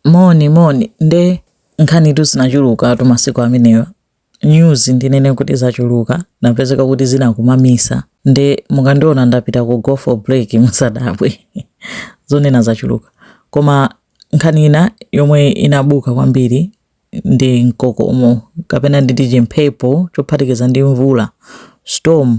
moni moni nde nkhanitu zinachuluka tu masiku amenewa news ndinene kuti zachuluka napezeka kuti zinakumamisa nde mukandiona ndapita ku go for break musadabwe zonena zachuluka koma nkhani ina yomwe inabuka kwambiri ndi mkokomo kapena nditi chimphepo chophatikiza ndi mvula storm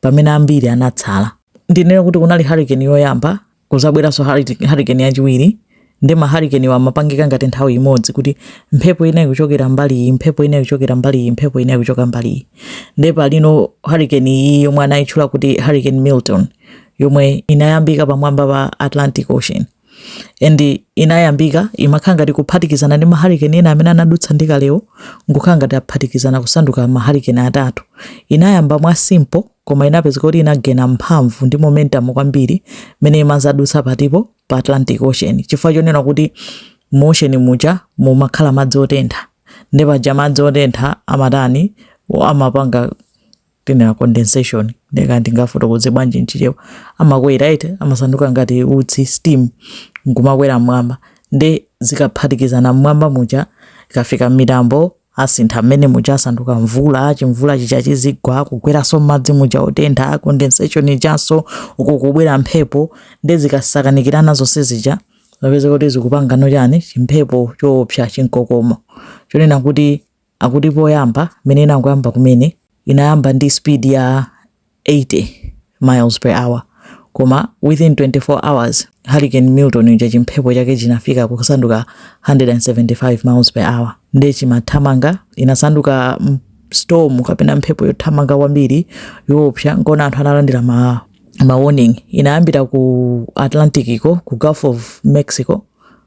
pamene ambiri anatsala. Ndinene kuti kunali hurricane yoyamba, kuzabweranso hurricane yachiwiri, nde ma hurricane wa amapangika ngati nthawi imodzi kuti mphepo ina ikuchokera mbali iyi, mphepo ina ikuchokera mbali iyi, mphepo ina ikuchoka mbali iyi. Nde palino hurricane iyi yomwe anayitchula kuti hurricane Milton yomwe inayambika pamwamba pa Atlantic Ocean. and inayambika imakhala ngati kuphatikizana ndi mahalikeni ena amene anadutsa kalewo nkukhala ngati aphatikizana kusanduka mahalikeni atatu inayamba mwa simple koma inapezeka kuti inagena mphamvu ndi momentum kwambiri mene imazadutsa patipo pa atlantic ocean chifukwa chonena kuti mu ocean muja mumakhala madzi otentha nde paja madzi otentha amatani amapanga timanena condensation nde kaya ndingafotokoze bwanji mchichewa amakwera eti amasanduka ngati utsi steam nkumakwera mmwamba nde zikaphatikizana mmwamba muja ikafika m'mitambo asintha mmene muja asanduka mvula chimvula chija chizigwa kugweranso m'madzi muja otentha condensation ijanso uko kubwera mphepo nde zikasakanikirana zonse zija zapezeka kuti zikupangano chani chimphepo choopsa chinkokomo chonena kuti Akuti poyamba mmene inangoyamba kumene inayamba ndi speed ya 80 miles per hour koma within 24 hours Hurricane Milton uja chimphepo chake chinafika kusanduka 175 miles per hour nde chimathamanga inasanduka storm kapena mphepo yothamanga kwambiri yoopsa nkona anthu analandira ma ma warning inayambira ku Atlantic ko ku Gulf of Mexico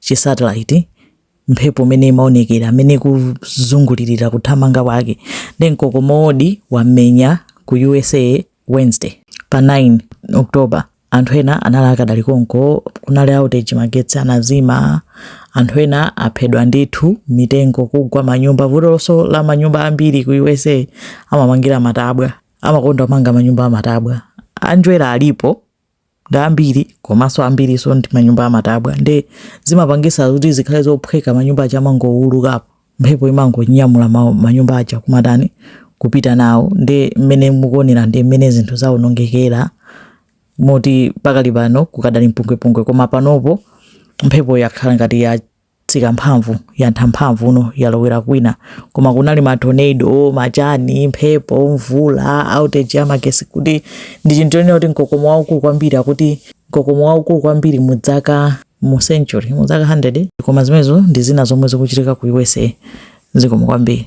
chi satellite, mphepo mene imaonekera, mene ikuzungulirira kuthamanga kwake, ndi mkokomowodi wamenya ku usa wednesday pa 9 october. anthu ena anali akadali konko, kunali outage magetsi anazima, anthu ena aphedwa ndithu, mitengo kugwa manyumba, vutonso la manyumba ambiri ku usa amamangira matabwa, amakonda kumanga manyumba amatabwa, anjwera alipo. ndi ambiri komanso ambirinso ndi manyumba amatabwa nde zimapangisa kuti zikhale zophweka manyumba aja amangowulukapo mphepo imangonyamula ma- manyumba aja kumatani kupita nawo nde mmene mukuonera ndi mmene zinthu zaonongekera moti pakali pano kukadali mpungwepungwe koma panopo mphepo yakhala ngati ya tsika mphamvu yantha mphamvu ino yalowera kwina koma kunali ma tornado machani mphepo mvula outage ya magesi kuti ndi chinthu chonena kuti mkokomo waukulu kwambiri akuti mkokomo waukulu kwambiri mu dzaka mu century mu dzaka 100 koma zimenezo ndi zina zomwe zikuchitika ku usa zikomo kwambiri